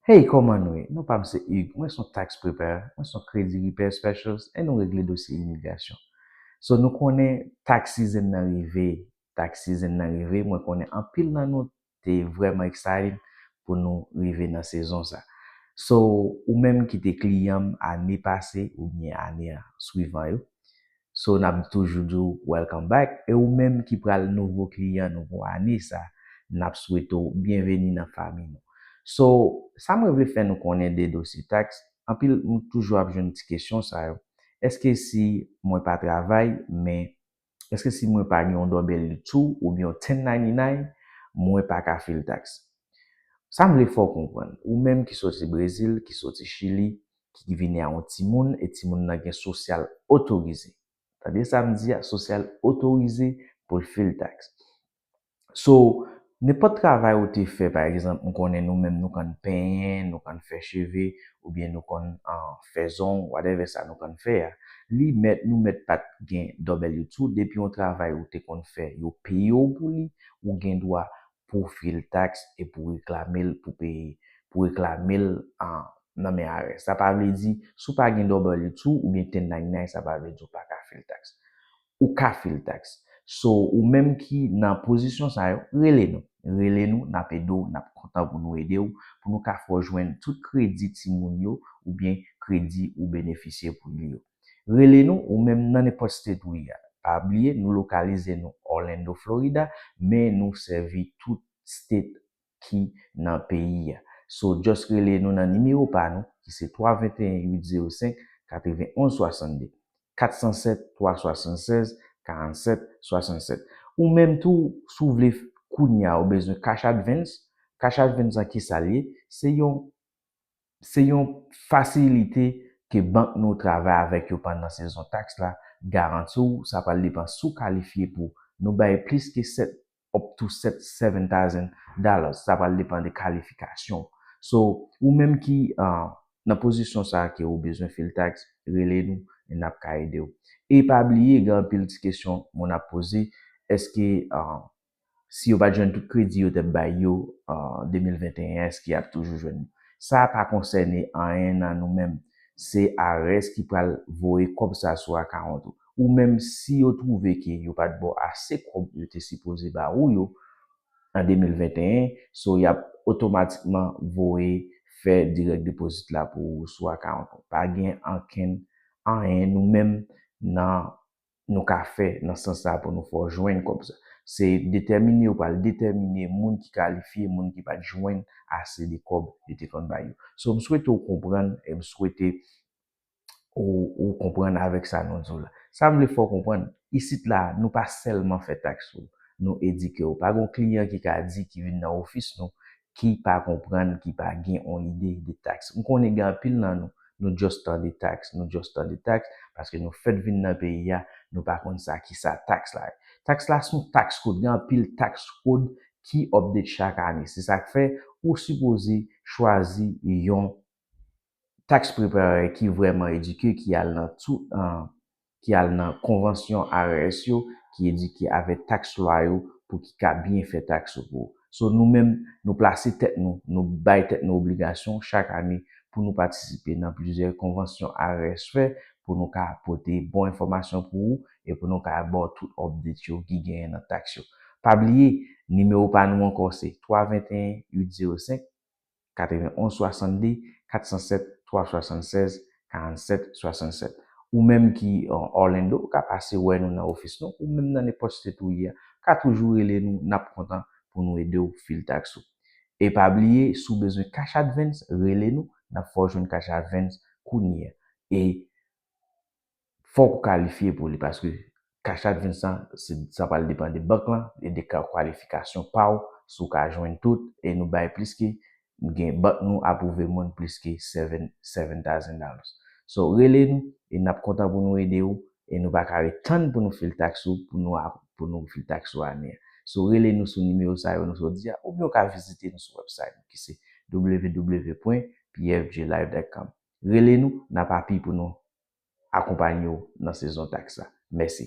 Hey kòman nou ye? Non pa m se Hugues, mwen son tax preparer, mwen son credit repair specialist and nou regle dosye imigrasyon. So nou konnen tax season nan rive, tax season nan rive, mwen konnen anpil nan nou te vrèman excited pou nou rive nan sezon sa. So ou menm ki te kliyan m ane pase oubyen ane swivan yo, So nap toujou di w welcome back e ou menm ki pral nouvo kliyan nou pou ane sa nap swete w byenveni nan fami nou. So sa mwen vle fè nou konnen de dosye tax anpil m toujou ap jwenn ti kesyon sa yo eske si mwen pa travay men eske si mwen pa gen yon W two oubyen yon 1099 mwen pa ka fil tax sa m vle fè w konprann ou menm ki soti brezil ki soti chili ki ki vini a yon timoun e timoun nan gen sosyal otorize. Tande sa m di a, sosyal otorize pou l fil taks. So, nenpòt travay ou te fè, pa egzanp, m konnen nou menm nou konn penyen, nou konn fè cheve, oubyen nou konn fè zong, whatever sa nou konn fè a, li mèt, nou mèt pa t gen W-2, depi yon travay ou te konn fè, yo peye w pou li, ou gen dwa pou w fye l taks e pou w reklame l pou peye, pou w reklame l nan men IRS. Sa pa vle di, si w pa gen W-2 oubyen 1099 sa pa vle di w pa ka fye l taks. Ou ka fye l taks. So, ou menm ki nan pozisyon sa yo, rele nou. Rele nou, n ap ede w, n ap kontan pou nou ede w, pou nou ka fè w jwenn tout kredi timoun yo oubyen kredi ou benefisye pou li yo. Rele nou ou menm nan nenpòt state ou ye a. Pa bliye nou lokalize nou Orlando Florida men nou sèvi tout state ki nan peyi a. So just rele nou nan nimewo pa nou ki se 321 805 91 62. 407 376 47 67. Ou menm tou si w vle kounya ou bezwen cash advance, cash advance an kisa l ye? Se yon Se yon fasilite ke bank nou travay avèk yo pandan sezon taks la, garanti w sa pral depan si w kalifye pou nou bay plis ke 7 up to 7 seven thousand dollars sa pral depan de kalifikasyon w so ou menm ki nan pozisyon sa ke ou bezwen fil taks rele nou e nap ka ede w e pa bliye gen anpil ti kesyon moun ap poze eske si yo pat jwenn tout kredi yo tep bay yo an 2021 eske yap toujou jwenn yo sa pa konsène anyen nan nou menm se ares ki pral voye kòb sa sou akawont ou ou menm si yo twouve ke yo pat baw ase kòb yo te sipoze ba ou yo an 2021 so yap otomatikman voye fè direct deposit la pou ou sou akawont ou pa gen ankenn anyen nou menm nan nou ka fè nan sans sa pou nou fè w jwenn kòb sa. Se detèmine yo pral detèmine moun ki kalifye, moun ki pat jwenn ase de kòb yo te konn bay yo. So m swete w konprann e m swete ou ou konprann avèk sa nou di w la. Sa m vle fè w konprann, isit la nou pa sèlman fè taks sou, nou edike w. Pa gon kliyan ki ka di ki vin nan ofis nou ki pa konprann, ki pa gen on ide de tax. M konnen gen anpil nan nou, nou just tande tax, nou just tande tax, paske nou fèt vin nan peyi a, nou pa konn sa ki sa tax la ye. Tax la son tax code, gen anpil tax code ki update chak ane. Se sak fè ou sipoze chwazi yon tax preparer ki vrèman edike ki al nan tout ki al nan konvansyon IRS yo ki edike avèk tax lwa yo pou ki ka byen fè tax ou pou ou. So nou menm nou plase tèt nou, nou bay tèt nou obligasyon chak ane pou nou patisipe nan plizyè konvansyon IRS fè pou nou ka pote bon enfòmasyon pou ou e pou nou ka ba w tout update yo ki genyen nan tax yo. Pa bliye nimewo pa nou ankò se 321 805 91 62 407 376 47 67 ou menm ki Orlando ou ka pase wè nou nan ofis nou ou menm nan nenpòt state ou ye a ka toujou rele nou nap kontan pou nou edew fil tax ou e pa bliye si w bezwen cash advance rele nou nap fè w jwenn cash advance kounye a e fòk ou kalifye pou li paske cash app Vincent se sa pral depan de bank lan e de kwalifikasyon pa w si w ka jwenn tout e nou bay plis ke gen bank nou apwouve moun plis ke seven seven thousand dollars so rele nou e n ap kontan pou nou ede ou e nou pa ka ret tann pou nou fil taks ou pou nou ap pou nou fil taks ou ane a so rele nou sou nimewo sa yo nou sot di a oubyen ou ka vizite nou sou wèbsayt nou ki se www pwen pfjlive dot com rele nou n ap api pou nou akonpanye w nan sezon taks la. Mèsi.